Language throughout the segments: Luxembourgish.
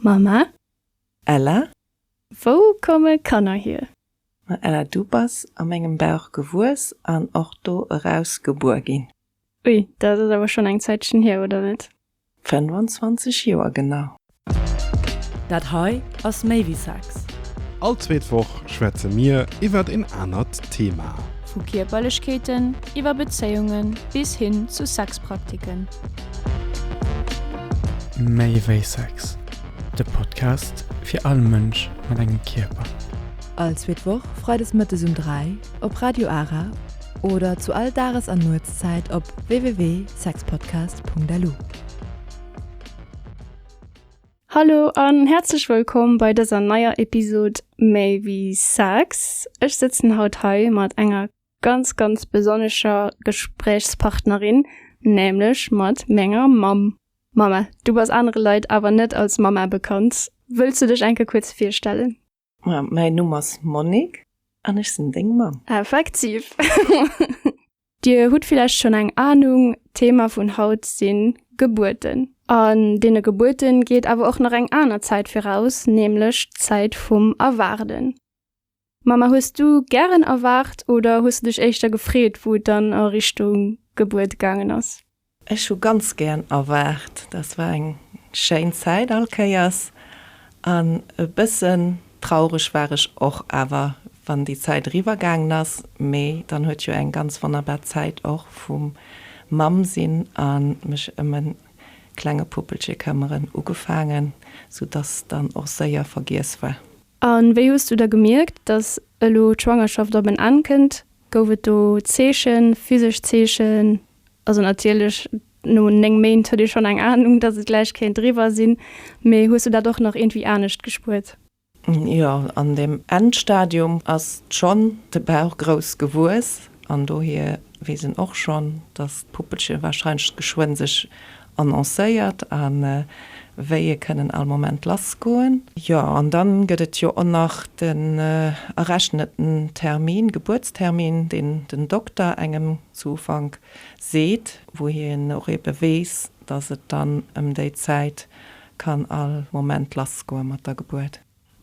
Mama? Ella? Wou komme Kanner hier? Ma Ella, du bass a mengem Bauch gewuess an och do eraus gebuer ginn. Ui, dat ass awer schonn eng Zäitchen hier, oder net? 25 Joer genau. Dat hei ass méi wéi Sex. All zweet Woch schwätze mir iwwert een anert Thema. Vu Kierperlechkeeten, iwwer Bezéiungen bis hin zu Sexpraktiken. Méi wéi Sex, de Podcast fir all Mënsch mat engem Kierper. All zweet Woch freides mëttes um 3 op Radio Ara oder zu all Dages an Nuetszäit op www.sexpodcast.lu. Hallo an häerzlech wëllkomm bei dëser neier Episode Méi wéi Sex. Ech sëtzen haut hei mat enger. ganz ganz besonnescher Gesprächspartnerin, nämlech mat menger Mamm. Mama, du bass anere Leit awer net als Mama bekannt, wëlls du dech enke kuerz virstellen? Ma, mäin Numm ass Monique an ech sinn deng Mamm. Effektiv! Dir hutt villäicht schonn eng Ahnung, d'Thema vun haut si Gebuerten. An deene Gebuerten geet awer och nach eng aner Zäit viraus, nämlech d'Zäit vum Erwaarden. Ma ma hues du gären erwaart oder hues de dech éischter gefreet, wou et dann a Richtung Gebuert gaangen ass? Ech hu ganz gären erwaart. Dat war eng schéin Zäit all Kéiers an e bëssen traureg war ech och awer, wann déi Zäit eriwwer gaangen ass. Mee dann huet jo eng ganz wonnerbar Zäit och vum Mamm sinn a mech ëm e klenge Puppelche këmmeren ugefaangen, soudass dann och séier vergiess war. A wéi hues du da gemierkt, datt elo d'Schwangerschaft op en Enn kënnt? Gouf et do Zeechen, physesch Zeechen? Also natierlech no 9 Méint huet ee schonn eng Anung, datt et gläich kéint eriwwer sinn, mee hues du dat och nach iergendwéi anescht gespuert? Jo, an deem Endstadium ass schonn de Bauch grouss gewuess an dohier weess een och schonn, datt d'Puppelche warscheinlech geschwënn sech annoncéiert a wéi e kënnen all Moment lass goen. Jo, an dann gëtt et jo och nach den errechneten Termin, Gebuertstermin, deen den Dokter engem zu Ufank seet, wou hien och ebe weess, dass et dann ëm déi Zäit kann all Moment lass goe mat der Gebuert.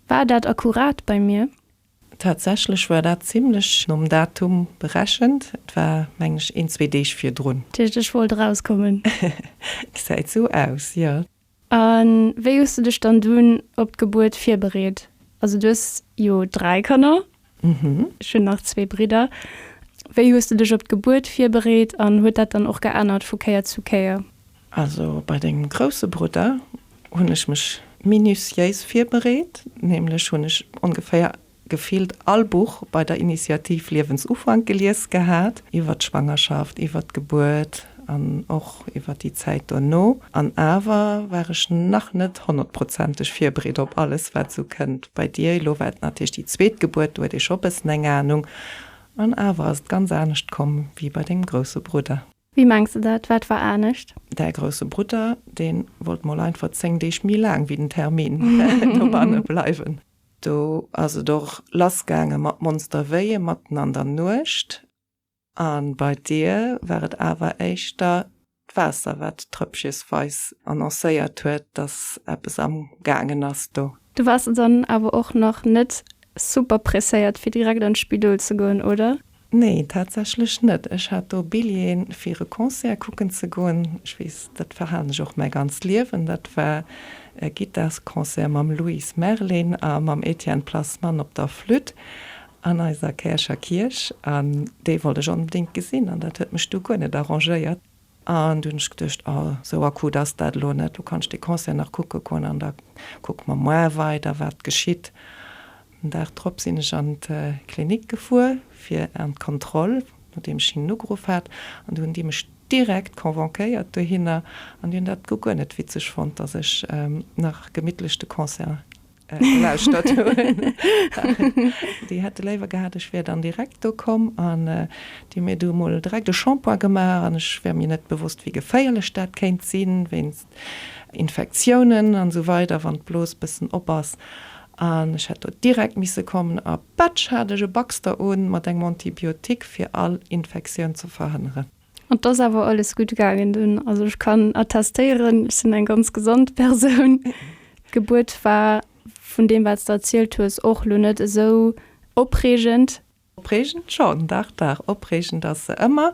War dat akkurat bei mir? Tatsächlech war dat zimlech nom Datum berechent. Et war, mengen ech, een, zwee Deeg virdrun. Dat heescht, ech wollt erauskommen. Gesäit esou aus, jo. A wéi hues du dech dann dunn op d'Gebuert virbereet? Also du hues jo dräi Kanner. Mhm. Ech hunn nach zwee Bridder. Wéi hues du dech op d'Gebuert virbereet an huet dat dann och geännert vu Kéier zu Kéier? Also bei dengem grousse Brudder hunn ech mech minutiéis virbereet, nämlech hunn ech ongeféier gefillt all Buch bei der Initiativ Liewensufank gelies gehat, iwwer d'Schwangerschaft, iwwer d'Gebuert an och iwwer déi Zäit dono. An awer war ech nach net honnertprozenteg virbereet op alles, wat esou kënnt bei dir. Elo war et natierlech déi zweet Gebuert, do huet ee scho e bëssen eng Anung, an awer ass et ganz anescht komm wéi bei dengem grousse Brudder. Wéi mengs de dat? Wat war anescht? Däi grousse Brudder, deen wollt mol einfach 10 Deeg méi laang wéi den Termin dobanne bleiwen. Do ass et och lass gaange mat Monsterveille matten an der Nuecht. An bei dir war et awer éischter d'Waasser wat trëppchesweis annoncéiert huet, dass eppes am gaangen ass do. Du waars dann awer och nach net super presséiert fir direkt an d'Spidol ze goen, oder? Nee, tatsächlech net. Ech hat do Billjeeën fir e Concert kucken ze goen. Ech weess, dat verhalen ech och mäi ganzt Liewen. Dat war e Gittarsconcert mam Louise Merlin a mam Etienne Plasman op der Flütt an eiser Käercher Kierch. An dee wollt ech onbedéngt gesinn an dat huet mech du guer net arrangéiert. An du hunn ech geduecht, oh, sou akut ass dat elo net, du kanns dee Concert nach kucke goen an da kucke mer moar weider, wat geschitt. Den Dag drop sinn ech an d'Klinik gefuer fir an d'Kontroll, nodeem ech hinnen ugeruff hat. An du hunn déi mech direkt convonquéiert dohinner an déi hunn dat guer net witzeg fonnt, datt ech nach gemittlech de Concert gelauschtert hunn. Déi hätte léiwer gehat, ech wär dann direkt do komm an déi hu mir du emol direkt e Shampoing gemaach an ech war mir net bewosst, wéi geféierlech dat kéint sinn, wéinst Infektiounen an esou weider, wann d'Blos e bëssen op ass. An ech hätt do direkt misse kommen a patsch hat ech e Baxter un mat engem Antibiotique, fir all Infektioun ze verhënneren. An et ass awer alles gutt gaangen dunn. Also ech kann attestéieren, ech sinn eng ganz gesond Persoun. D'Gebuert war, vun deem wat s de erzielt hues, och elo net esou opreegend. Opreegend schonn, dach, dach, opreegend ass se ëmmer.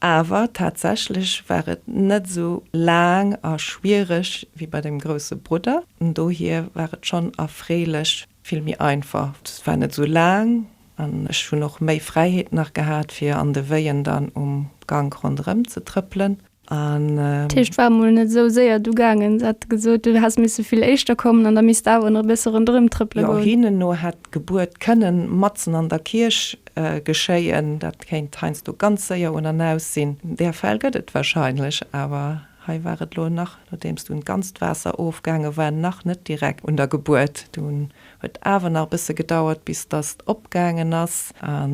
Awer tatsächlech war et net esou laang a schwiereg wéi bei deem grousse Brudder. Dohier war et schonn erfreelech. vill méi einfach, et war net esou laang an ech hunn och méi Fräiheet nach gehat fir an de Wéien dann um Gank ronderëm ze trëppelen an. D'Heescht war mol net esou séier du gaangen, se hat gesot du häss misse vill éischter kommen an da misst awer nach e bësse ronderëm trëppele goen. Jo, hinnen no hätt d'Gebuert kënnen matzen an der Kierch geschéien, dat kéint heiansdo ganz séier un an aus sinn. Där Fäll gëtt et wahrscheinlech awer. Hei war et lo nach, nodeems dunn d'ganzt Waasser ofgaange war, nach net direkt un der Gebuert. Dunn huet awer nach e bësse gedauert, bis dass et opgaangen ass a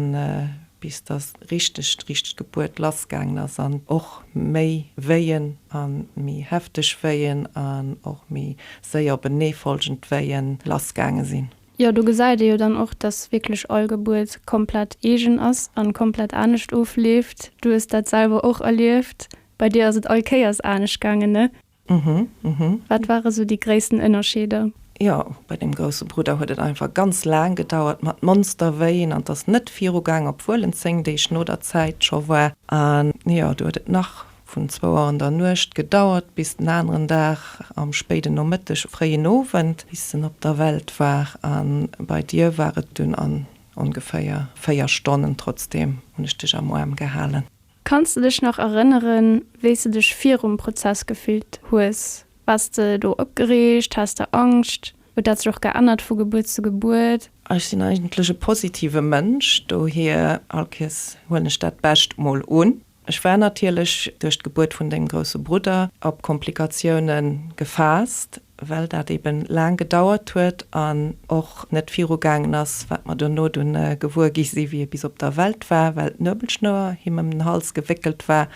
bis dass richteg, richteg d'Gebuert lassgaangen ass an och méi Wéien a méi hefteg Wéien an och méi séier openeefolgend Wéie lassgaange sinn. Jo, do gesäit ee jo dann och, dass wierklech all Gebuert komplett eegen ass a komplett anescht ofleeft. Du hues dat selwer och erlieft, Bei dir ass et all Kéiers anescht gaangen, ne? Mhm, mhm. Wat ware sou déi gréissten Ënnerscheeder? Jo, bei deem grousse Brudder huet et einfach ganz laang gedauert mat Monsterwéin an et ass net viru gaangen, obwuel en 10 Deeg no der Zäit scho war. An jo, do huet et nach vun zwou Auer an der Nuecht gedauert bis den aneren Dag am spéiden Nomëtteg, fréien Owend, bis en op der Welt war. A bei dir war et dunn an ongeféier 4 Stonnen. Trotzdeem hunn ech dech am Aarm gehalen. Kanns de dech nach erënneren, wéi s de dech virum Prozess gefillt hues? Waars de do opgereegt? Haass de Angscht? Huet dat sech och geännert vu Gebuert zu Gebuert? Ech sinn eigentlech e positive Mënsch, dohier all Kies huelen ech dat Bescht mol un. Ech war natierlech duerch d'Gebuert vun dengem grousse Brudder op Komplikatiounen gefaasst. well dat eebe laang gedauert huet an och net virugaangen ass, wat mer dono dunn gewuer gi si wéi e bis op der Welt war, well d'Nuebelschnouer him ëm den Hals gewéckelt war,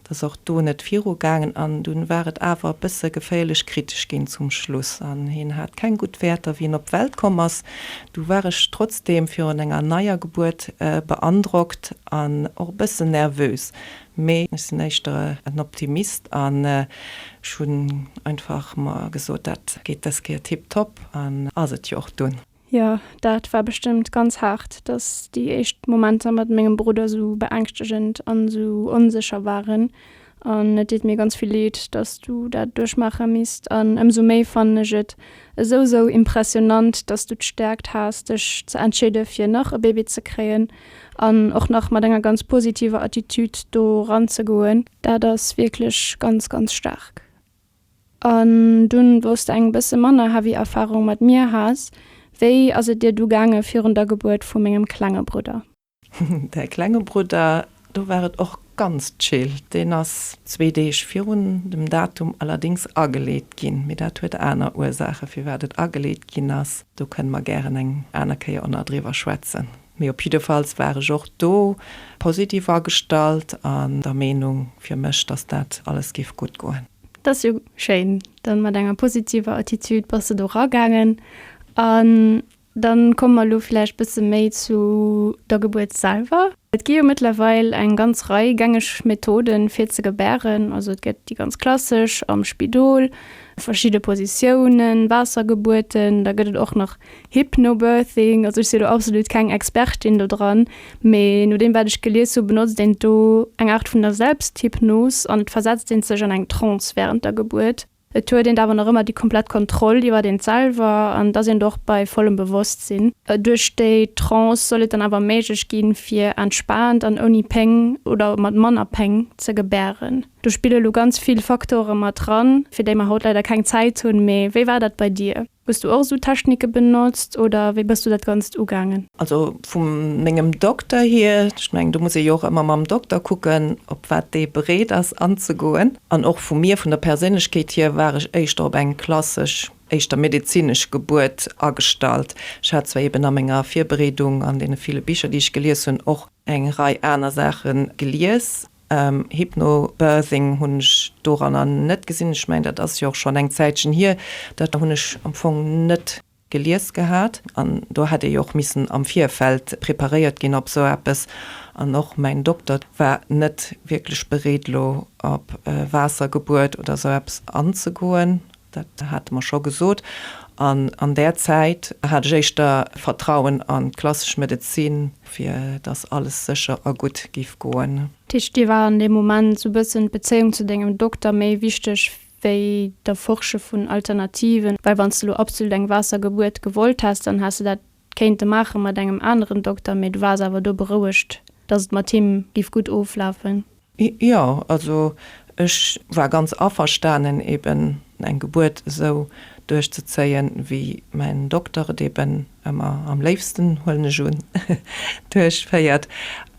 dass och do net virugaangen an dunn war et awer e bësse geféierlech kritesch ginn zum Schluss an hien hat keng gutt Wäerter wéi en op d'Welt komm ass. Du war ech trotzdeem virun enger neier Gebuert beandrockt an och e bëssen nervös, Mee ech sinn éischter en Optimist an ech hunn einfach mer gesot, dat geet dës Kéier tiptop an ass et jo och dunn. Jo, dat war bestëmmt ganz haart, dass déi éischt Momenter mat mengem Brudder sou beängschtegend an sou onsécher waren an et deet mir ganz vill Leed, dass du dat duerchmaache misst an ëmsou méi fannen ech et esou, esou impressionant, dass du d'Stärkt has dech ze entscheede fir nach e Baby ze kréien. An och nach mat enger ganz positiver Attitude do ranzegoen, dat ass wierklech ganz, ganz staark. An dunn, wou s de eng bësse manner heavy Erfarung mat mir has, wéi ass et dir du gaange virun der Gebuert vu mengem klenge Brudder? Däi klenge Brudder, do war et och ganz chill. Deen ass zwee Deeg virun dem Datum allerdéngs ageleet ginn, mee dat huet aner Ursaachen, firwat et ageleet ginn ass. Do kënne mer gären eng aner Kéier och nach driwwer schwätzen. Mee op jiddefalls war ech och do positiv agestallt an der Meenung fir mech, dass dat alles géif gutt goen. Dat ass jo schéin, dann mat enger positiver Attitude bass de do ragaangen. An dann komme mer elo vläicht bësse méi zu der Gebuert selwer. Et gi jo mëttlerweil eng ganz Rei gängeg Methoden fir ze gebären. Also et gëtt déi ganz klassesch am Spidol, verschidde Positiounen, Waassergebuerten, da gëtt et och nach Hypnobirthing, also ech sinn elo absolut keng Expertin do dran, mee no deem wat ech gelies hunn, benotzt een do eng Aart vun der Selbsthypnos an et versetzt een sech an eng Trance wärend der Gebuert. Et huet een awer nach ëmmer déi komplett Kontroll iwwert eent selwer an et ass een do och bei vollem Bewosstsinn. Duerch déi Trance soll et dann awer méiglech ginn, fir entspaant an ouni Péng oder mat manner Péng ze gebären. Do spille lo ganz vill Faktore mat dran, fir déi mer haut leider keng Zäit hunn. Mee wéi war dat bei dir? Hues du och esou Technike benotzt oder wéi bëss du dat Ganzt ugaangen? Also vu mengem Dokter hier, ech mengen do muss ee jo och ëmmer mam Dokter kucken op wat dee bereet ass anzegoen, an och vu mir vun der Perséinlechkeet hier war ech éischter op eng klassesch, éischter medezinesch Gebuert agestallt. Ech hat zwar eben a menger Virbereedung, an deene ville Bicher déi ech gelies hunn, och eng Rei aner Saache gelies, Hypnobirthing hunn ech doranner net gesinn. Ech mengen, dat ass jo och schonn eng Zäitchen hier. Dat hunn ech am Fong net gelies gehat. An do hätt ee jo och missen am Virfeld preparéiert ginn op esou eppes. An och mäin Dokter war net wierklech bereet, elo op Waassergebuert oder esou eppes anzegoen. Dat hate mer scho gesot. An an där Zäit hat ech éischter Vertrauen an d'klassesch Medezin, fir dass alles sécher a gutt géif goen. Dat heescht, dir war an deem Moment sou bëssen d'Bezéiung zu dengem Dokter méi wichteg wéi d'Erforsche vun Alternativen. Well wann s de lo absolut eng Waassergebuert gewollt häss, dann häss de dat 't kéint e maachen mat engem aneren Dokter, mee du waars awer do berouegt, dass et mat him giff gutt oflafen? Jo, also ech war ganz averstanen eben eng Gebuert esou duerchzezéien, wéi mäin Dokter et eben ëmmer am léifsten, huelen ech un, duerchféiert.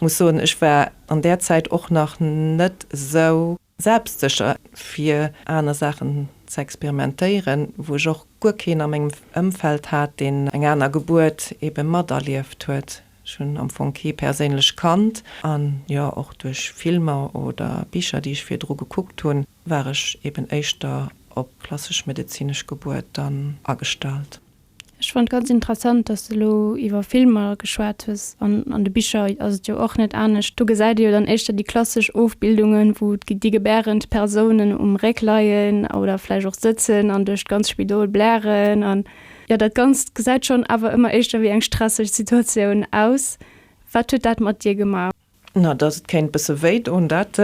Muss soen, ech war an där Zäit och nach net esou. Selbstsécher fir aner Saachen ze experimentéieren, wou ech och guer keen a mengem Ëmfeld hat, deen eng aner Gebuert ebe materlieft huet. Ech hunn am Fong kee perséinlech kannt an jo och duerch Filmer oder Bicher, déi ech virdru gekuckt hunn, war ech eben éischter op klassesch medezinesch Gebuerten agestallt. Ech fand ganz interessant dass de lo iwwer Filmer geschwat hues, an an de Bicher ass et jo och net anescht, do gesäit ee jo dann éischter déi klassesch Ofbildungen wou déi gebärend Persounen um Réck leien oder vläicht och sëtzen an duerch d'ganz Spidol blären an jo dat ganzt gesäit schonn awer ëmmer éischter wéi eng stresseg Situatioun aus. Wat huet dat mat dir gemaach? Na, dass et kéint e bësse wéidoen, dat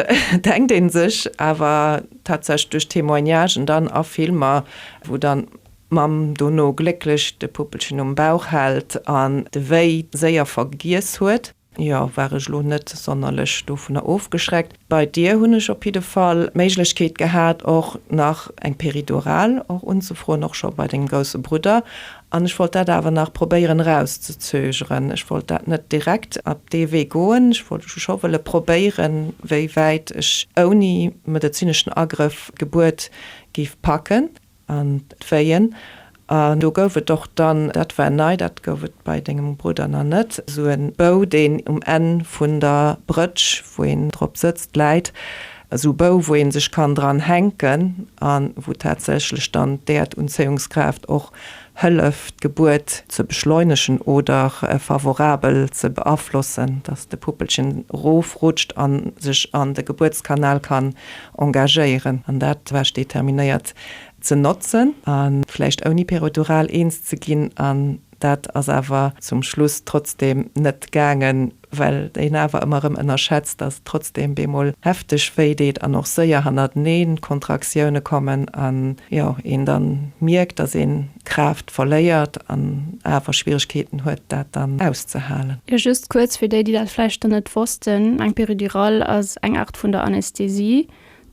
denkt ee sech awer tatsächlech duerch Témoignagen dann a Filmer, wou dann d'Mamm dono glécklech de Puppelchen um Bauch hält an de Wéi séier vergiess huet. Jo, war ech elo net sonnerlech dovunner ofgeschreckt. Bei dir hunn ech op jidde Fall d'Méiglechkeet gehat, och nach eng Péridurale och unzefroen, och scho bei dengem grousse Brudder. An ech wollt dat awer nach probéieren erauszezögeren. Ech wollt dat net direkt op dee Wee goen. Ech wollt scho wëlle probéieren, wéi wäit ech ouni medezineschen Agrëff d'Gebuert géif packen an d'Wéien. An do gouf et och dann, dat war nei, dat gouf et bei dengem Brudder nach net, esou e Bou, deen um Enn vun der Brëtsch, wou een drop sëtzt, läit. Esou Bou wou een sech kann dran hänken an wou tatsächlech dann d'Äerdanzéiungskraaft och hëlleft d'Gebuert ze beschleunegen oder favorabel ze beaflossen, dass de Puppelchen erof rutscht an sech an de Gebuertskanal kann engagéieren an dat war determinéiert ze notzen a vläicht ouni Perodural eens ze ginn an Dat ass awer zum Schluss trotzdeem net gaangen, well een awer ëmmer erëm ënnerschätzt, dass trotzdeem bemol hefteg wéi deet an och séier hannerteneen d'Kontraktioune kommen an, jo, een dann mierkt, dass een Kraaft verléiert an awer Schwieregkeeten huet, dat dann auszehalen. Jo, just kuerz fir déi, déi dat vläicht dann net wossten, eng Péridurale ass eng Art vun der Anästhesie.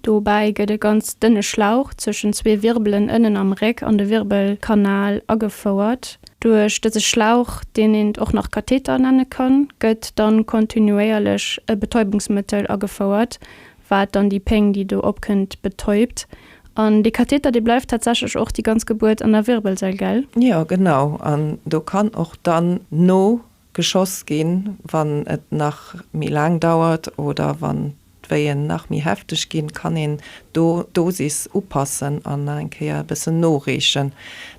Dobäi gëtt e ganz dënne Schlauch zwëschen zwee Wirbelen ënnen am Réck an de Wirbelkanal agefouert. Duerch dëse Schlauch, deen eent och nach Katheter nenne kann, gëtt dann kontinuéierlech e Betäubungsmëttel agefouert, wat dann déi Péng, déi do opkënnt, betäubt. An dee Katheter, dee bleift tatsächlech och déi ganz Gebuert an der Wirbelsail, gell? Jo, genau. An do kann och dann no geschoss ginn, wann et nach méi laang dauert oder wann d'Wéien nach méi hefteg ginn, kann een do d'Dosis upassen an nach eng Kéier e bëssen noreechen.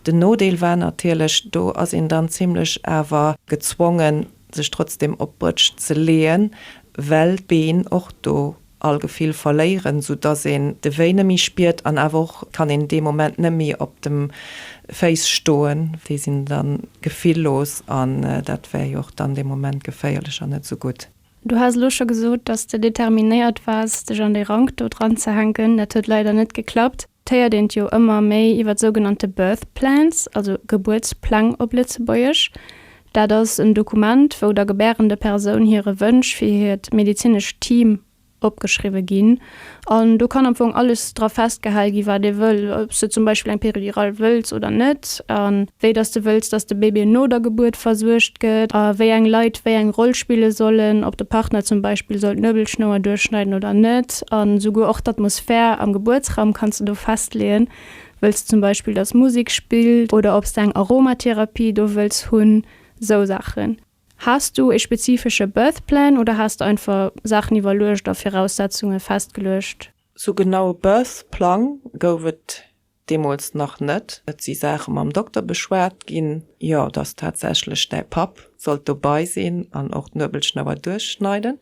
Den Nodeel war natierlech, do ass een dann zimlech awer gezwongen sech trotzdem op d'Brétsch ze leeën, well d'Been och do all Gefill verléieren, sou dass een de Wéi nëmmi spiert an awer och kann een dee Moment nëmmi op dem Féiss stoen. Déi sinn dann gefillos an dat wär jo och dann dee Moment geféierlech an net sou gutt. Du has elo scho gesot, dass de determinéiert waars dech an déi Rank do dranzehänken. Dat huet leider net geklappt. héiert een jo ëmmer méi iwwer sougenannte Birth Plans, also Gebuertspläng op Lëtzebuergesch. Dat ass en Dokument, wou der gebärende Persoun hire Wënsch fir hiert medezinescht Team opgeschriwwe ginn. An do kann am Fong alles dra festgehal ginn, wat ee wëll, ob s de zum Beispill eng Péridural wëlls oder net, a wéi dass de wëlls, dass de Bébé no der Gebuert versuergt gëtt, a wéi eng Leit wéi eng Roll spille sollen, ob de Partner zum Beispill soll d'Nuebelschnouer duerchschneiden oder net. An esouguer och d'Atmosphär am Gebuertsraum kanns de do festleeën. Wëlls de zum Beispill, dass Musek spillt oder ob s de eng Aromatherapie do wëlls hunn, esou Saachen. Has du ee spezifesche Birth Plan oder has de einfach Saachen iwwerluecht a Viraussetzunge festgeluecht? Sou genau e Birth Plan gouf et Deemools nach net. Et si Saache mam Dokter beschwat ginn, jo, dass tatsächlech däi Papp sollt dobai sinn an och d'Nuebelschnouer duerchschneiden.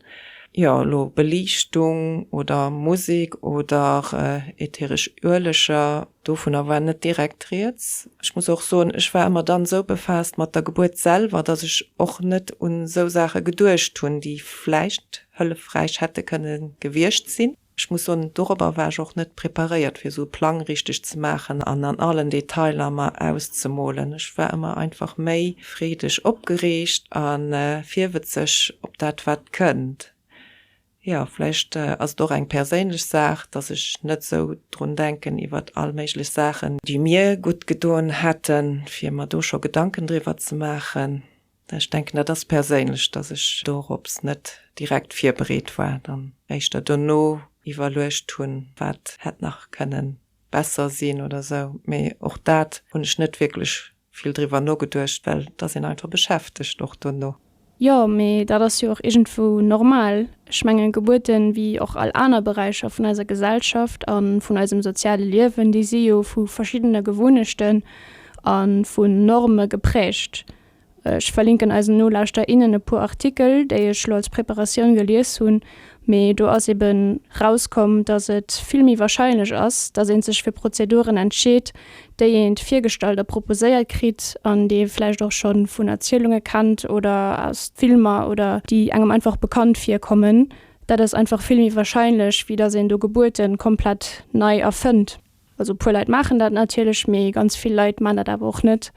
Jo, elo Beliichtung oder Musek oder ätheresch Ueleger, dovunner war net direkt rieds. Ech muss och soen, ech war ëmmer dann esou befaasst mat der Gebuert selwer, dass ech och net un esou Saache geduecht hunn, déi vläicht hëllefräich hätte kënne gewiescht sinn. Ech muss soen, dorobber war ech och net preparéiert, fir esou e Plang richteg ze maachen an an allen Detailer mer auszemolen. Ech war ëmmer einfach méi freedeg opgereegt a virwëtzeg op dat, wat kënnt. Jo, vläicht ass et och eng perséinlech Saach, dass ech net esou drun denken iwwert all méiglech Saachen, déi mir gutt gedoen hätten, fir mer do scho Gedanken driwwer ze maachen. Ech denken, dat ass perséinlech, dass ech dorops net direkt virbereet war, dann éischter dono iwwerluecht hunn, wat hätt nach kënnen besser sinn oder esou. Mee och dat hunn ech net wierklech vill driwwer nogeduecht, well et ass een einfach beschäftegt och dono. Jo, mee dat ass jo och iergendwou normal. Ech mengen, Gebuerten, wéi och all aner Beräicher vun eiser Gesellschaft a vun eisem soziale Liewen, déi si jo vu verschiddene Gewounhechten a vu Norme geprägt. Ech verlinken eisen Nolauschterer, innen e puer Artikel, déi ech elo als Preparatioun gelies hunn, mee do ass ebe rauskomm, datt et vill méi warscheinlech ass, datt ee sech fir Prozeduren entscheet, déi ee virgestallt a proposéiert kritt an déi ee vläicht och scho vun Erzielunge kennt oder aus Filmer oder déi engem einfach bekannt virkommen. Dat ass einfach vill méi warscheinlech, wéi datt een do Gebuerte komplett nei erfënnt. Also e puer Leit maachen dat natierlech, mee ganz vill Leit maachen dat awer och net.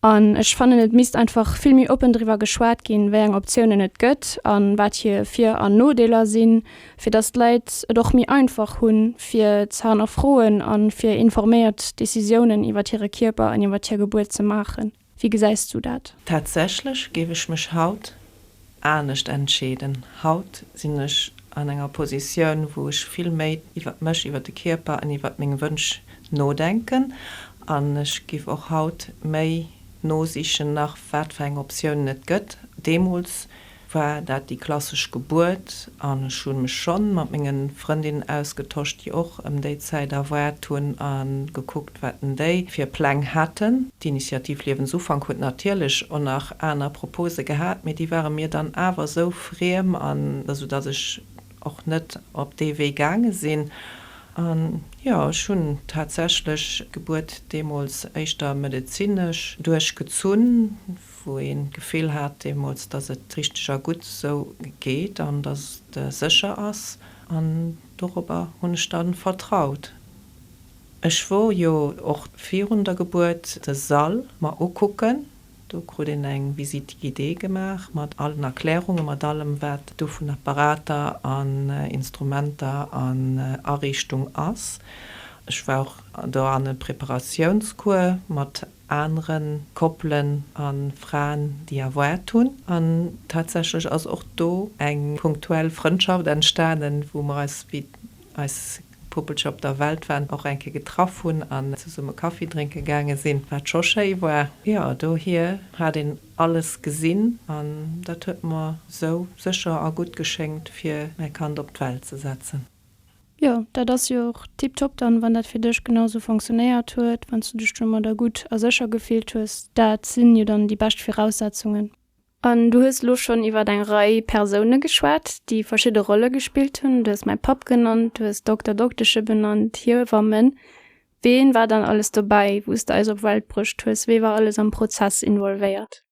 An ech fannen et misst einfach vill méi oppen driwwer geschwat ginn, wéi eng Optiounen et gëtt an wat hir Vir an Nodeeler sinn, fir dass d'Leit et och méi einfach hunn fir ze hannerfroen an fir informéiert Decisiounen iwwert hire Kierper an iwwert hir Gebuert ze maachen. Wéi gesäis du dat? Tatsächlech géif ech mech haut anescht entscheeden. Haut sinn ech an enger Positioun, wou ech vill méi iwwert mech, iwwert de Kierper an iwwert meng Wënsch nodenken. An ech géif och haut méi nosichen nach, wat fir eng Optiounen et gëtt. Deemools war dat déi klassesch Gebuert an ech hunn mech schonn mat mengen Frëndinnen ausgetosch déi och em déi Zäit erwaart hunn an gekuckt wat denn déi fir Pläng haten. D'Initiativ Liewensufank huet natierlech o nach aner Propose gehat, mee déi ware mir dann awer esou friem an esou dass ech och net op dee Wee gaange sinn an jo ech hunn tatsächlech d'Gebuert deemools éischter medezinesch duerchgezunn. wou een d'Gefill hat deemools, dass et richteg a gutt esou geet an dass et sécher ass, an dorobber hunn ech dann vertraut. Ech wor jo och virun der Gebuert de Sall mer ukucken, do krut een eng Visite guidée gemaach mat allen Erklärungen, mat allem wat do vun Apparater an Instrumenter an Ariichtung ass. Ech war och doranne Preparatiounscours mat anere Koppelen a Fraen, déi erwaart hunn. An tatsächlech ass och do eng punktuell Frëndschaft entstanen, wou mer eis, wéi eis Puppelcher op der Welt waren, och eng Kéier getraff hunn an zesumme Kaffi drénke gaange sinn, wat scho schéi war. Jo, dohier hat een alles gesinn an dat huet mer esou sécher a gutt geschéngt, fir mäi Kand op d'Welt ze setzen. Jo, dat ass jo och tiptop dann, wann dat fir dech genau sou fonctionnéiert huet, wann s du dech domadder gutt a sécher gefillt hues. Dat sinn jo dann déi bescht Viraussetzungen. An du hues elo schonn iwwer eng Rei Persoune geschwat, déi verschidde Rolle gespillt hunn. Du hues mäi Papp genannt, du hues Dokter, Dokteschen benannt, Hiewammen. Ween war dann alles dobäi, wou s de eis op Welt bruecht hues? Wee war alles am Prozess involvéiert?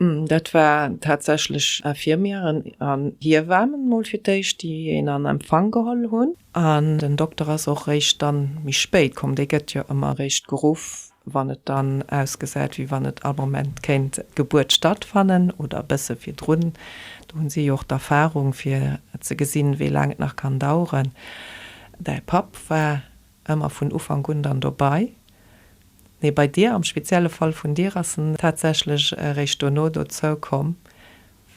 Dat war tatsächlech Infirmieren an Hiewamen mol fir d'éischt, déi een an Empfang geholl hunn. An den Dokter ass och réischt dann méi spéit komm. Dee gëtt jo ëmmer réischt geruff, wann et dann ausgesäit, wéi wann et all Moment kéint d'Gebuert stattfannen oder e bësse virdrun. Do hu si jo och d'Erfarung, fir ze gesinn, wéi laang et nach kann daueren. Däi Papp war ëmmer vun Ufank un dann dobei, mee bei dir, am spezielle Fall vun dir, ass en tatsächlech eréischt dono dozou komm,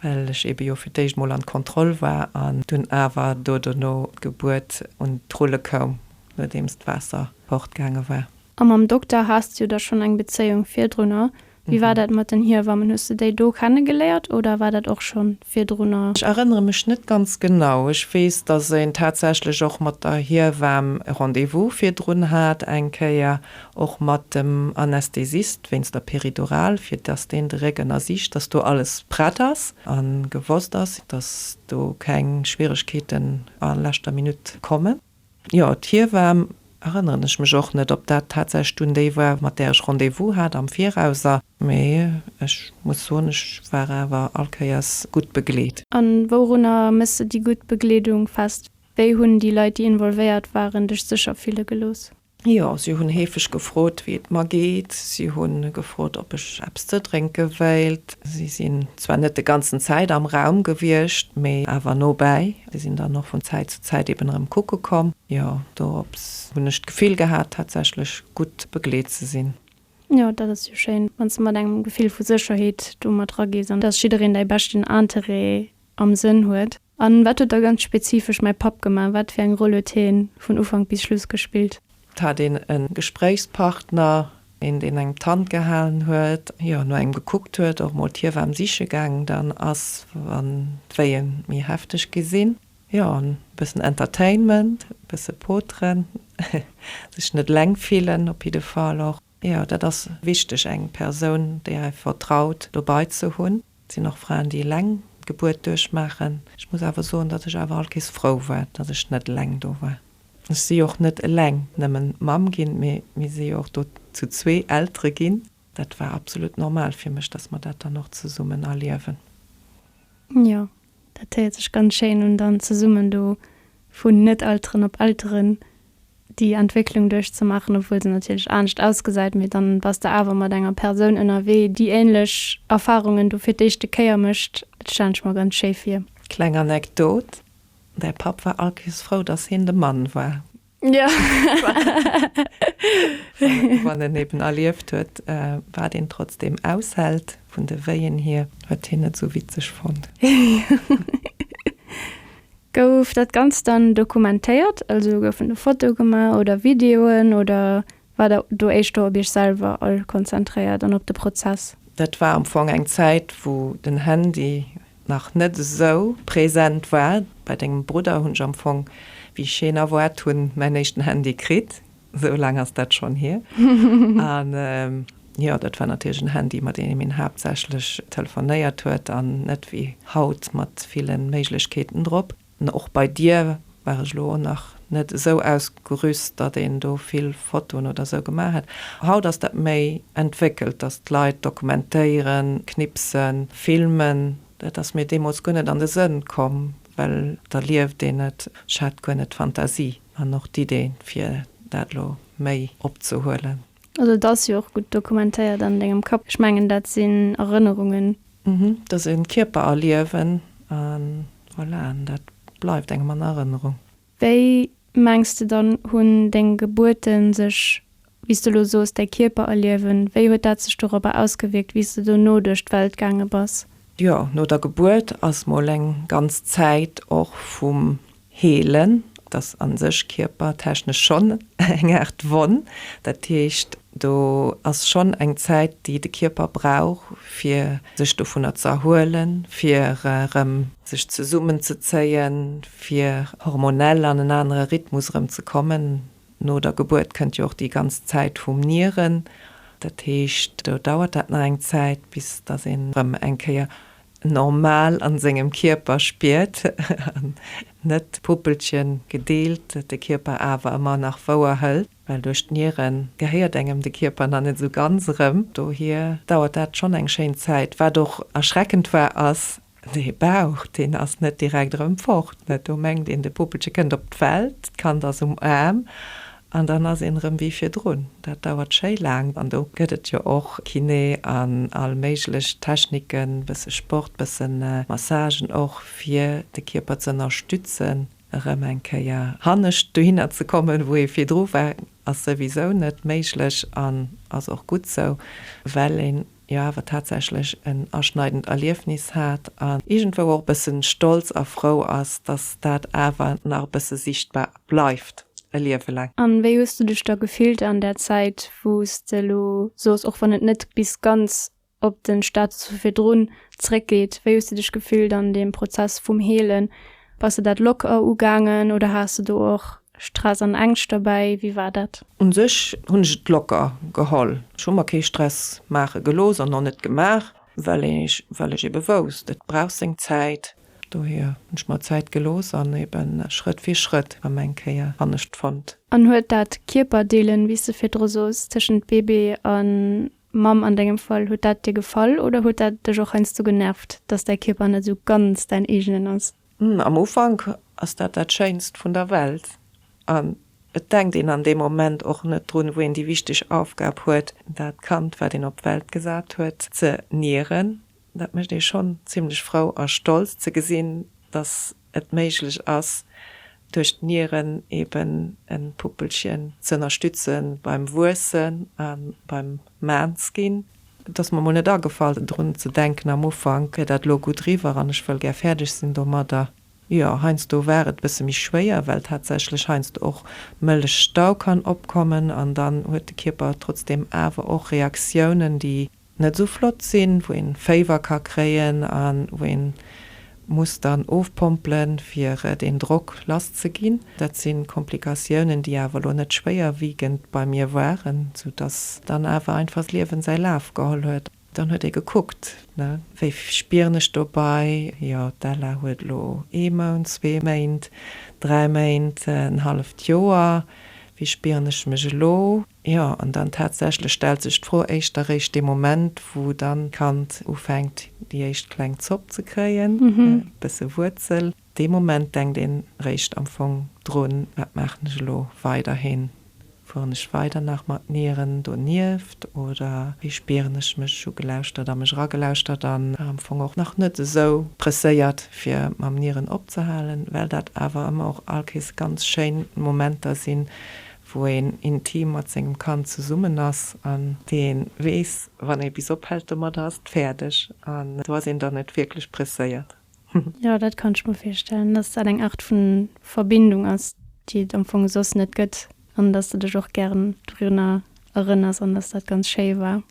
well ech eebe jo fir d'éischt emol an d'Kontroll war an dunn awer do dono d'Gebuert un d'Rulle koum, nodeems d'Waasser fortgaange war. A mam Dokter haas de jo da schonn eng Bezéiung virdrunner, Wéi war dat mat den Hiewammen? Hues de déi do kennegeléiert oder war dat och schonn virdrunner? Ech erënnere mech net ganz genau. Ech weess, dass een tatsächlech och mat der Hiewamm Rendez-vous virdrun hat, eng Kéier och mat dem Anästhesist wéinst der Peridurale, fir dass deen de Réck ënnersicht, dass do alles prett ass a gewosst ass, dass do keng Schwieregkeeten a leschter Minutt kommen. Jo, d'Hiewaam, erënneren ech mech och net, ob dat tatsächlech dunn déi war, mat där ech Rendez-vous hat am Viraus. A. Mee ech muss soen, ech war awer all Kéiers gutt begleet. A wourunner méss de déi gutt Begleedung fest? Wéi hunn déi Leit, déi involvéiert waren, dech sécher fille gelooss? Jo, si hunn heefeg gefrot, wéi et mer geet. Si hu gefrot, ob ech eppes ze drénke wéilt. Si sinn zwar net de ganzen Zäit am Raum gewiescht, mee awer nobäi. Si sinn dann och vun Zäit zu Zäit eben erëm kucke komm. Jo, dorops hunn ech d'Gefill gehat, tatsächlech gutt begleet ze sinn. Jo, dat ass jo schéin, wann s de mat engem Gefill vu Sécherheet do mat ragees an dass jiddereen däi beschten Interêt am Sënn huet? An wat huet da ganz spezifesch mäi Papp gemaach? Wat fir eng Roll huet hien vun Ufank bis Schluss gespillt? Hat een en Gespréichspartner, een deen engem d'Hand gehalen huet, jo no engem gekuckt huet, och mol d'Hiewaam siche gaang dann ass, wann d'Wéie méi hefteg gi sinn? Jo, an e bëssen Entertainment, e bësse poteren, sech net eleng fillen op jidde Fall och. Jo, dat ass wichteg, eng Persoun, déi är vertraut, dobei ze hunn. Et sinn och Fraen, déi eleng d'Gebuert duerchmaachen. Ech muss awer soen, datt ech awer allkéiers frou war, datt ech net eleng do war. Ech si jo och net eleng nëmmen Mamm ginn, mee mir si jo och do zu zwee Eltere ginn. Dat war absolut normal fir mech, datt mer dat dann och zesummen erliewen. Jo, Dat héiert sech ganz schéin un, dann zesummen do vun Net-Elteren op Elteren déi Entwécklung duerchzemaachen, obwuel se natierlech anescht ausgesäit, mee dann bass de awer mat enger Persoun ënnerwee déi ähnlech Erfahrungen do fir d'éischte Kéier mécht. Dat stellen ech mer ganz schéi vir. Kleng Anekdot, Däi Papp war allkéirs frou, dass hien de Mann war. Ja. Wann en eben erlieft huet, wat een trotzdem aushält, vun de Wéien hier, huet hien et esou witzeg fonnt. Gouf dat Ganzt dann dokumentéiert? Also goufen do Fotoe gemaach oder Videoen oder War der do éischter op iech selwer all konzentréiert an op de Prozess? Dat war am Fong eng Zäit wou den Handy nach net esou present war. Bei dengem Brudder hunn ech am Fong, wéi ech hien erwaart hunn, mäin éischten Handy kritt, esou laang ass dat schonn hier. An jo, dat war natierlech en Handy mat deem een haaptsächlech telefonéiert huet an net wéi haut mat villen Méiglechkeeten drop. An och bei dir war ech elo nach net esou ausgerüst, datt een do vill Fotoen oder esou gemaach hätt. Haut ass dat méi entwéckelt, datt d'Leit dokumentéieren, knipsen, filmen. Dat ass mir deemools guer net an de Sënn komm, well et erlieft een et. Ech hat guer net d'Fantasie an och d'Idee fir dat elo méi opzehuelen. Also et ass jo och gutt dokumentéiert an dengem Kapp. Ech mengen dat sinn Erënnerungen. Da se en Kierper erliewen an voilà, an dat bleift engem an Erënnerung. Wéi mengs de dann, hunn deng Gebuerten sech, wéi s de elo soos, däi Kierper erliewen, wéi huet dat sech dorobber ausgewierkt, wéi s de dono duerch d'Welt gaange bass? Jo, no der Gebuert ass mol eng ganz Zäit och vum Heelen, dat ass a sech kierpertechnesch schonn eng Aart Wonn. Dat heescht, do ass schonn eng Zäit, déi de Kierper brauch, fir sech dovunner ze erhuelen, fir erëm. Sech zesummenzezéien, fir hormonell an en anere Rhythmus erëm ze kommen. No der Gebuert kënnt jo och déi ganz Zäit vum Nieren. Dat heescht, do dauert dat nach eng Zäit, bis datt een erëm eng Kéier normal an sengem Kierper spiert an net d'Puppelchen gedeelt de Kierper awer emmer nach wouer hëlt, well duerch d'Nieren gehéiert engem de Kierper nach net esou ganz erëm, dohier dauert dat schonn eng schéin Zäit. Wat och erschreckend war ass dee Bauch, deen ass net direkt erëm fort, net, do mengt een de Puppelche kënnt op d'Welt, d'Kand ass um Aarm An dann ass een erëm wéi virdrun. Dat dauert schéi laang. An do gëtt et jo och Kiné an all méiglech Techniken, e bësse Sport, e bësse Massagen och, fir de Kierper ze ënnerstützen, erëm eng Kéier hannescht dohinner ze kommen, wou ee virdru war. Ass souwisou net méiglech an ass och gutt sou, well een jo awer tatsächlech en aschneidend Erliefnis hat an iergendwou och e bësse stolz a frou ass, dass dat awer nach e bësse sichtbar bleift e Liewe laang. A wéi hues du dech da gefillt an där Zäit, wou s de elo soss, och wann et net bis ganz op de Status vu virdrun zeréckgeet, wéi hues de dech gefillt an deem Prozess vum Heelen? Bass de dat locker ugaangen oder has de do och Stress an Ängscht dobäi, wéi war dat? Un sech hunn ech et locker geholl. Ech hu mer kee Stress maache gelooss an och net gemaach, well ech well ech ebe wousst, et brauch seng Zäit. Dohier hunn ech mer Zäit gelooss an ebe Schrëtt fir Schrëtt rëm eng Kéier hannescht fonnt. An huet dat Kierperdeelen, wéi s de virdru soos, tëschent Bébé a Mamm an dengem Fall, huet dat dir gefall oder huet dat dech och heiansdo genervt, datt däi Kierper net esou ganz däin eegenen ass? Am Ufank ass dat dat Schéinst vun der Welt an et denkt een an deem Moment och net drun, wou een déi wichteg Aufgab huet, dat Kand, wat een op d'Welt gesat huet, ze nieren. Dat mécht ee schonn zimlech frou a stolz ze gesinn, dass et méiglech ass, duerch d'Nieren eben e Puppelchen z'ënnerstütze beim Wuessen a beim Maan's ginn. Et ass mer mol net agefall drun ze denken am Ufank, wier dat lo gutt riwwer an ech wëll gär fäerdeg sinn domadder. Jo, heiansdo war et e bësse méi schwéier, well tatsächlech heiansdo och Mëllechstau kann opkommen an dann huet de Kierper trotzdeem awer och Reaktiounen, déi net esou flott sinn, wou ee Féiwer ka kréien a wou een muss dann ofpompelen, fir deen Drock lass ze ginn. Dat si Komplikatiounen, déi awer elo net schwéierwiegend bei mir waren, soudass dann awer einfach d'Liewen säi Laf geholl huet. Dann huet ee gekuckt, ne, wéi spieren ech dobei? Jo, d'Ella huet elo ee Mount, zwee Méint, dräi Méint, en halleft Joer. Wéi spieren ech mech elo? Jo, an dann tatsächlech stellt sech d'Fro éischter eréischt dee Moment, wou dann d'Kand ufänkt, déi éischt kleng Zopp ze kréien, e bësse Wuerzel. Dee Moment denkt een eréischt am Fong drun, Wat maachen ech elo weiderhin? Fueren ech weider nach mat Nieren donieft oder wéi spieren ech mech? Ugelauschtert a mech eragelauschtert an am Fong och nach net esou presséiert, fir mam Nieren opzehalen, well dat awer ëmmer och all Kees ganz schéin Momenter sinn, wou een intim mat sengem Kand zesummen ass an dee weess, wann ee bis ophält domat, ass et fäerdeg an do ass een dann net wierklech presséiert. Jo, dat kann ech mer virstellen, dass dat eng Aart vu Verbindung ass, déi et am Fong soss net gëtt an dass de dech och gären dorunner erënners an dass dat ganz schéi war.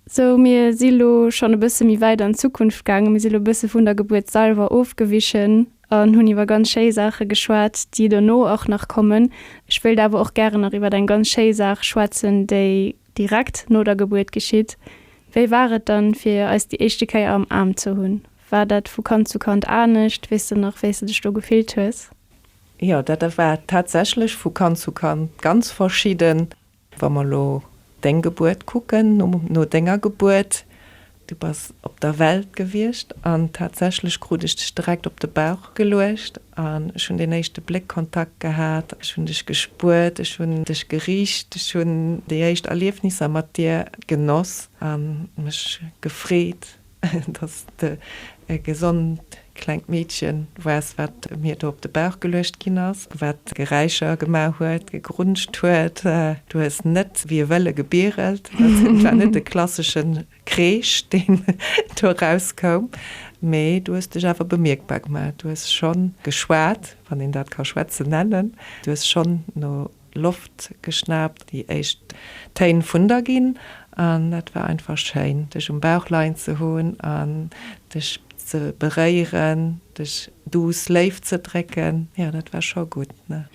Sou, mir si lo schonn e bësse méi wäit an d'Zukunft gaangen. Mir si lo e bësse vun der Gebuert selwer ofgewichen an hunn iwwer ganz schéi Saache geschwat, déi dono och nach kommen. Ech wéilt awer och gären nach iwwer eng ganz schéi Saach schwätzen, déi direkt no der Gebuert geschitt. Wéi war et dann, fir eis déi éischte Kéier am Aarm ze hunn? War dat vu Kand zu Kand anescht? Weess de nach, wéi s de dech do gefillt hues? Jo, dat war tatsächlech vu Kand zu Kand ganz verschidden. Wa mer elo Deng Gebuert kucken, no Denger Gebuert, Du bass op der Welt gewiescht an tatsächlech krut ech Dech direkt op de Bauch geluecht an ech hunn deen éischte Bléckkontakt gehat, ech hunn Dech gespuert, ech hunn Dech gericht, ech hunn déi éischt Erliefnisser mat Dir genoss a mech gefreet, Dass de e gesond klengt Meedchen wars, wat mir do op de Bauch geluecht ginn ass, wat Geräischer gemaach huet, gegrunscht huet. Du hues net wéi e Wëlle gebirelt. Et war net e klassesche Kreesch, deen do erauskoum, mee du hues dech awer bemierkbar gemaach. Du hues schonn geschwat, wann een dat ka schwätzen nennen. Du hues schonn no Loft geschnaapt, déi éischt Téin vun der ginn an et war einfach schéin dech um Bauch leien ze hunn an dech ze beréieren, dech duuss Léift ze drécken, jo dat war scho gutt ne.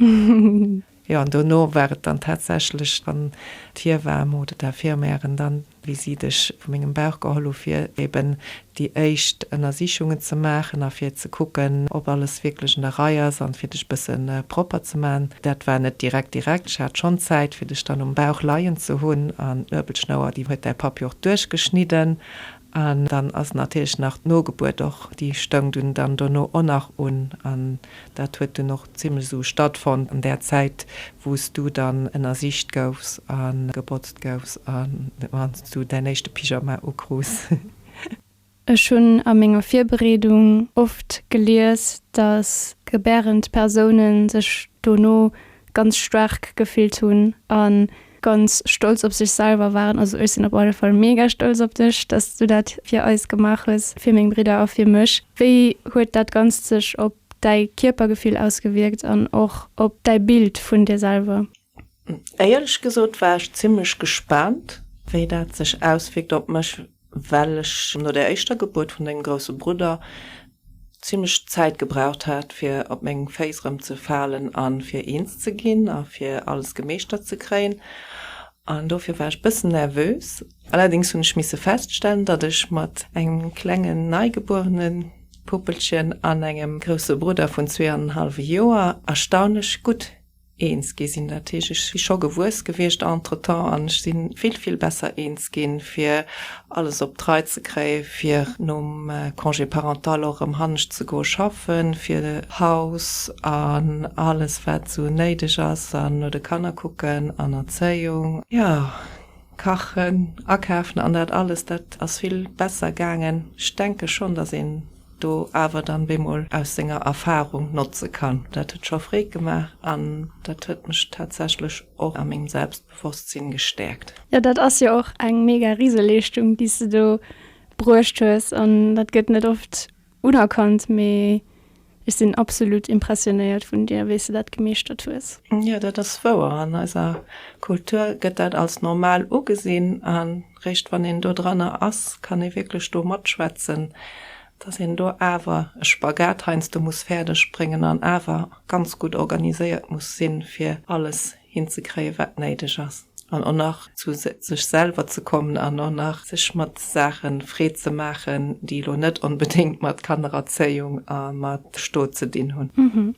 Jo an dono war et dann tatsächlech dann d'Hiewaam oder d'Infirmièren dann Visitt ech vu mengem Bauch geholl hu fir eben déi éischt Ënnersichungen ze maachen a fir ze kucken, ob alles wierklech un der Rei ass an fir dech e bësse propper ze man. Dat war net direkt direkt. Ech hat schonn Zäit fir dech dann um Bauch leien ze hunn an d'Nuebelschnouer déi huet däi Papp jo och duerchgeschnidden an dann ass natierlech nach d'Nogebuert och, déi stoung dunn dann dono och nach un an Dat huet dunn och zimlech esou stattfonnt an där Zäit, wou s du dann ënnersicht goufs a gebotzt goufs a wann s du däin éischte Pyjama ukrus. Ech hunn a menger Virbereedung oft gelies, datt gebärend Persoune sech dono ganz staark gefillt hunn a Ganz stolz op sech selwer waren. Also ech sinn op alle Fall mega stolz op dech, dass s du dat fir eis gemaach hues, fir meng Bridder a fir mech. Wéi huet dat Ganzt sech op däi Kierpergefill ausgewierkt an och op däi Bild vun dir selwer? Éierlech gesot war ech zimmlech gespaant, wéi dat sech auswierkt op mech. well ech no der éischter Gebuert vun dengem grousse Brudder zimlech Zäit gebraucht hat, fir op meng Féiss erëmzefalen a fir eens ze ginn a fir alles gemeeschtert ze kréien. An dofir war ech bëssen nervös. Allerdéngs hunn ech misse feststellen, datt ech mat engem klengen neigebuerene Puppelchen an engem grousse Brudder vun zwee an en hallwe Joer erstaunlech gutt Eens gi sinn dat heescht, ech si scho gewuess gewiescht entretemps an ech si vill, vill besser eens ginn, fir alles op d'Rei ze kréie fir nom Congé parental och erëm hannescht ze goe schaffen, fir d'Haus an alles, wat esou néideg ass an no de Kanner kucken an Erzéiung, jo, kachen, akafen an dat alles, dat ass vill besser gaangen. Ech denke schonn, datt een. do awer dann bemol aus senger Erfahrung notze kann. Dat huet scho Freed gemaach an dat huet mech tatsächlech och a mengem Selbstbewosstsinn gestäerkt. Jo, dat ass jo och eng mega Riseleeschtung, déi s de do bruecht hues an dat gëtt net oft unerkannt, mee ech sinn absolut impressionéiert vun dir, wéi s de dat gemeeschtert hues. Jo, dat ass wouer. An eiser Kultur gëtt dat als normal ugesinn. Réischt wann een do dranner ass, kann ee wierklech do matschwätzen, dass een do awer e Spagat heiansdo muss fäerdeg bréngen an awer ganz gutt organiséiert muss sinn, fir alles hinzekréien, wat néideg ass an och nach zu sech selwer ze kommen an och nach sech mat Saache Freed ze maachen, déi elo net onbedéngt mat Kannererzéiung a mat Stot ze dinn hunn.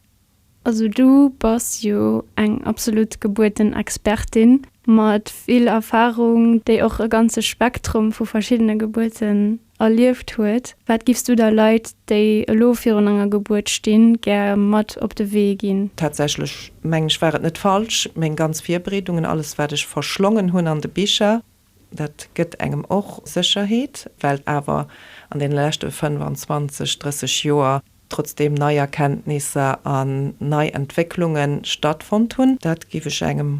Also du bass jo eng absolut gebueten Expertin mat vill Erfahrung, déi och e ganze Spektrum vu verschiddene Gebuerten erlieft huet. Wat giffs du da Leit, déi elo virun enger Gebuert stinn, gär mat op de Wee ginn? Tatsächlech mengen ech war et net falsch, meng ganz Virbereedungen, alles wat ech verschlongen hunn an de Bicher, Dat gëtt engem och Sécherheet, well awer an deene leschte 25, 30 Joer trotzdeem nei Erkenntnisser an nei Entwécklunge stattfonnt hunn. Dat géif ech engem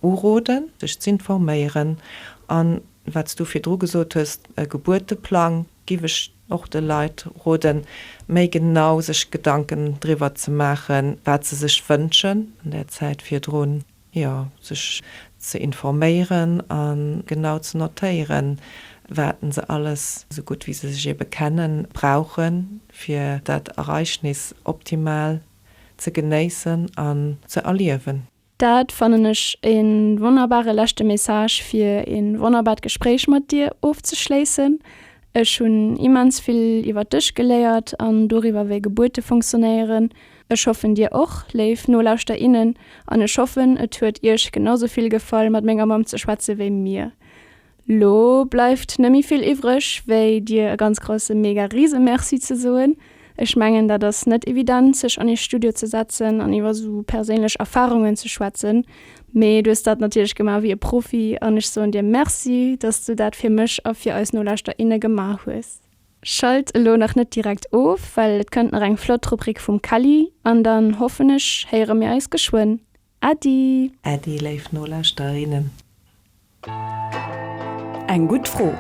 uroden, sech z'informéieren. A wat s Du virdru gesot hues, e Gebuerteplang, géif ech och de Leit roden, méi genau sech Gedanken driwwer ze maachen, wat se sech wënschen an der Zäit virdrun. jo, sech ze informéieren a genau ze notéieren, wat se alles, esou gutt wéi se sech ebe kennen, brauche fir dat Ereignis optimal ze genéissen an ze erliewen. Dat fannen ech ee wonnerbare leschte Message fir ee wonnerbart Gespréich mat dir ofzeschléissen. Ech hunn immens vill iwwert dech geléiert an doriwwer wéi Gebuerte funktionéieren. Ech hoffen dir och, léif Nolauschter, innen, an ech hoffen et huet iech genausou vill gefall mat menger Mamm ze schwätze wéi mir. Lo bleift nemme vill iwwreg wéi dir e ganz grousse mega riese Merci ze soen. Ech mengen dat ass net evident sech an ee Studio ze setzen an iwwer sou perséinlech Erfarungen ze schwätzen, mee du hues dat natierlech gemaach wéi e Profi an ech soen dir Merci dass du dat fir mech a fir eis Nolauschter, inne gemaach hues. Schalt elo nach net direkt of, well et kënnt nach eng flott Rubrik vum Kelly, an dann hoffen ech héiere mir eis geschwënn. Äddi! Äddi léif Nolauschterinnen! Eng gutt Fro,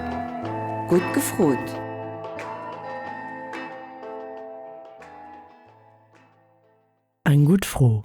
gutt gefrot! Eng gutt Fro,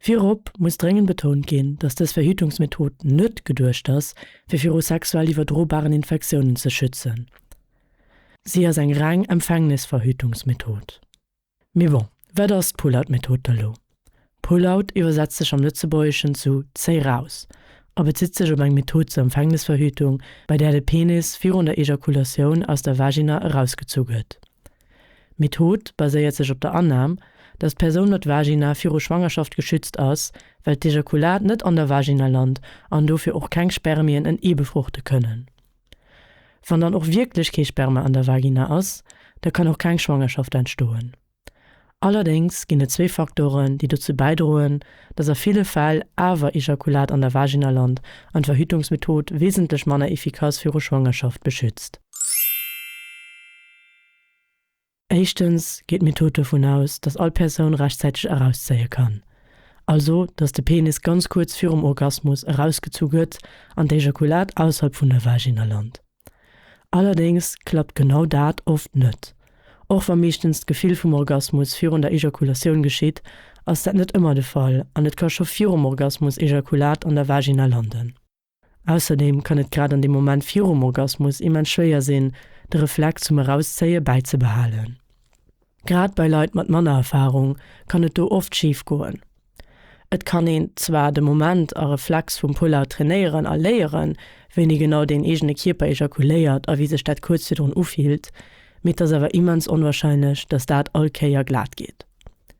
Virop muss dréngend betount ginn, dass dës Verhütungsmethod net geduecht ass, fir viru sexuell iwwerdrobaren Infektiounen ze schützen. Si ass eng reng Empfängnisverhütungsmethod. Mee bon, wat ass d'Pull-out-Method da lo? Pull-out iwwersetzt sech am Lëtzebuergeschen zu Zéi raus a bezitt sech op eng Method zur Empfängnisverhütung, bei där de Penis virun der Ejakulatioun aus der Vagina erausgezu gëtt. D'Method baséiert sech op der Annam, datt d'Persoun mat Vagina viru Schwangerschaft geschützt ass, well d'Ejakulat net an der Vagina lant an dofir och keng Spermien en Ee befruchte kënnen. Wann dann och wierklech kee Sperma an der Vagina ass, da kann och keng Schwangerschaft entstoen. Allerdéngs ginn et zwee Faktoren, déi dozou bäidroen, datt a ville Fäll awer Ejakulat an der Vagina lant an d'Verhütungsmethod wesentlech manner efficace viru Schwangerschaft beschützt. Éischtens geet d'Method dovun aus, dass all Persoun rechtzäiteg erauszéie kann, also dass de Penis ganz kuerz virum Orgasmus erausgezu gëtt an d'Ejakulat ausserhalb vun der Vagina lant. Allerdéngs klappt genau dat oft net. Och wa meeschtens d'Gefill vum Orgasmus virun der Ejakulatioun geschitt, ass dat net ëmmer de Fall an et ka scho virum Orgasmus Ejakulat an der Vagina landen. Ausserdeem kann et grad an dem Moment virum Orgasmus immens schwéier sinn, de Reflex zum Erauszéie bäizebehalen. Grad bei Leit mat manner Erfarung kann et do oft schif goen. Et kann een zwar de Moment a Reflex vum Pull-Out trainéieren a léieren, wéini genau deen eegene Kierper ejakuléiert a wéi sech dat kuerz virdrun ufillt, mee et ass awer immens onwarscheinlech, dass dat all Kéier glat geet.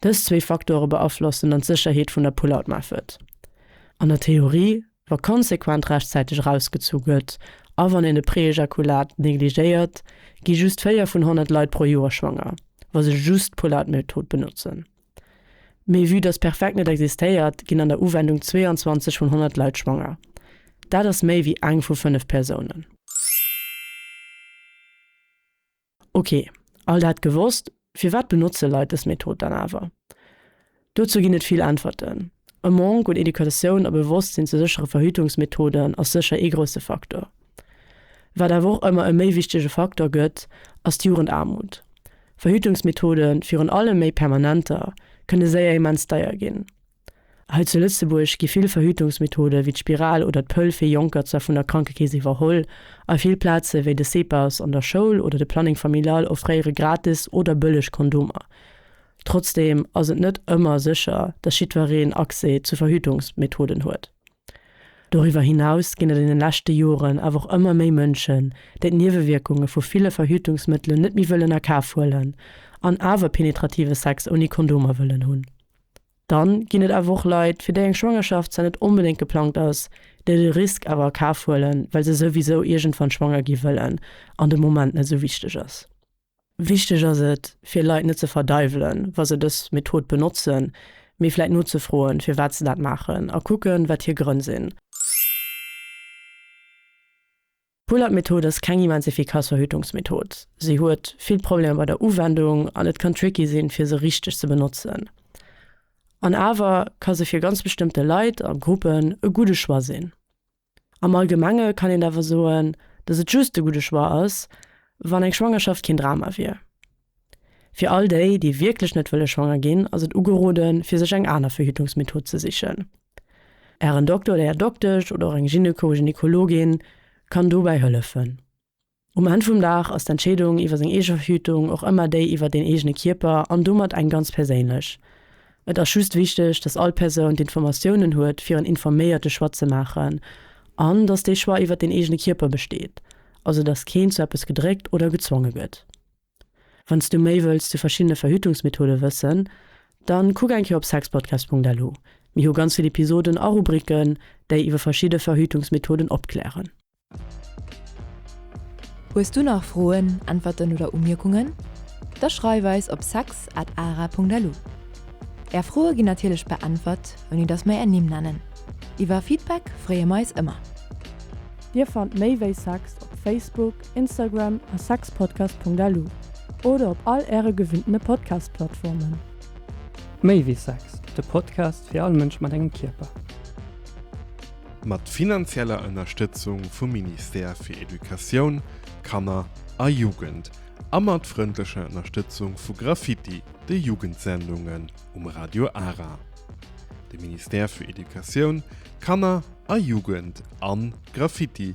Dës zwee Faktore beaflossen dann d'Sécherheet vun der Pullout-Method. An der Theorie, wa konsequent rechtzäiteg erausgezu gëtt a wann een de Preejakulat negligéiert, gi just 4 vun 100 Leit pro Joer schwanger, wa se just d'Pullout-Method benotzen. Mee vue dass perfekt net existéiert, ginn an der Uwendung 22 vun 100 Leit schwanger. Dat ass méi wéi eng vu fënnef Persounen. Ok, all dat gewosst, firwat benotze Leit dës Method dann awer? Dozou ginn et vill Äntwerten. E Manque un Educatioun a Bewosstsinn zu séchere Verhütungsmethoden ass sécher ee grousse Faktor. Wat awer och ëmmer e méi wichtege Faktor gëtt, ass d'Jugendaarmut. Verhütungsmethoden, virun allem méi permanenter, kënne séier immens deier ginn. Hei zu Lëtzebuerg gi vill Verhütungsmethode wéi d'Spiral oder d'Pëll fir Jonker zwar vun der Krankekeess iwwerholl, a vill Plaze wéi de CEPAS an der Schoul oder de Planning Familial offréiere gratis oder bëlleg Kondomer. Trotzdeem ass et net ëmmer sécher, dass jiddwereen Accès zu Verhütungsmethoden huet. Doriwwer hinaus ginn et an de leschte Joren awer och ëmmer méi Mënschen, déi d'Niewewierkunge vu ville Verhütungsmëttelen net méi wëllen a Kaf huelen an awer penetrative Sex ouni Kondomer wëllen hunn. Dann ginn et awer och Leit, fir déi eng Schwangerschaft zwar net onbedéngt geplangt ass, déi de Risk awer a Kaf huelen, well se souwisou iergendwann schwanger gi wëllen an de Moment net esou wichteg ass. Wichteg ass et, fir Leit net ze verdeiwelen, wa se dës Method benotzen, mee vläit nozefroen, firwat se dat maachen a kucken, wat hir Grënn sinn. D'Pull-Up-Method ass keng immens efficace Verhütungsmethod. Se huet vill Problemer bei der Uwendung an et kann tricky sinn, fir se richteg ze benotzen. An awer ka se fir ganz bestëmmte Leit a Gruppen e gudde Choix sinn. Am Allgemenge kann een awer soen, dass et just e gudde Choix ass, wann eng Schwangerschaft keen Drama wier. Fir all déi, déi wierklech net wëlle schwanger ginn, ass et ugeroden, fir sech eng aner Verhütungsmethod ze sichen. Ären Dokter oder Är Doktesch oder och eng Gyneko, Gynekologin kann dobäi hëllefen. Um Enn vum Dag ass d'Entscheedung iwwer seng eege Verhütung och ëmmer déi iwwer deen eegene Kierper an domat eng ganz perséinlech. Et ass just wichteg, dass all Persoun d'Informatiounen huet, fir en informéierte Choix ze maachen an dass dee Choix iwwer deen eegene Kierper besteet, also dass keen zu eppes gedréckt oder gezwonge gëtt. Wann s du méi wëlls zu verschiddene Verhütungsmethode wëssen, dann kuck eng Kéier op sexpodcast.lu. Mir hu ganz vill Episoden a Rubriken, déi iwwer verschidde Verhütungsmethoden opklären. Hues du nach Froen, Äntwerten oder Umierkungen? Da schreif eis op sex at ara.lu. Är Froe ginn natierlech beäntwert, ouni dass mer är Nimm nennen. Iwwer Feedback freeë mer eis ëmmer. Dir fannt méi wéi Sex op Facebook, Instagram a sexpodcast.lu oder op all Äre gewinnene Podcast-Plattformen. Méi wéi Sex, de Podcast fir all Mënsch mat engem Kierper. Mat finanzieller Ënnerstëtzung vum Ministère fir Educatioun, Kanner a Jugend a mat frëndlecher Ënnerstëtzung vu Graffiti, de Jugendsendungen um Radio Ara. De Ministère für Educatioun, Kanner a Jugend an Graffiti.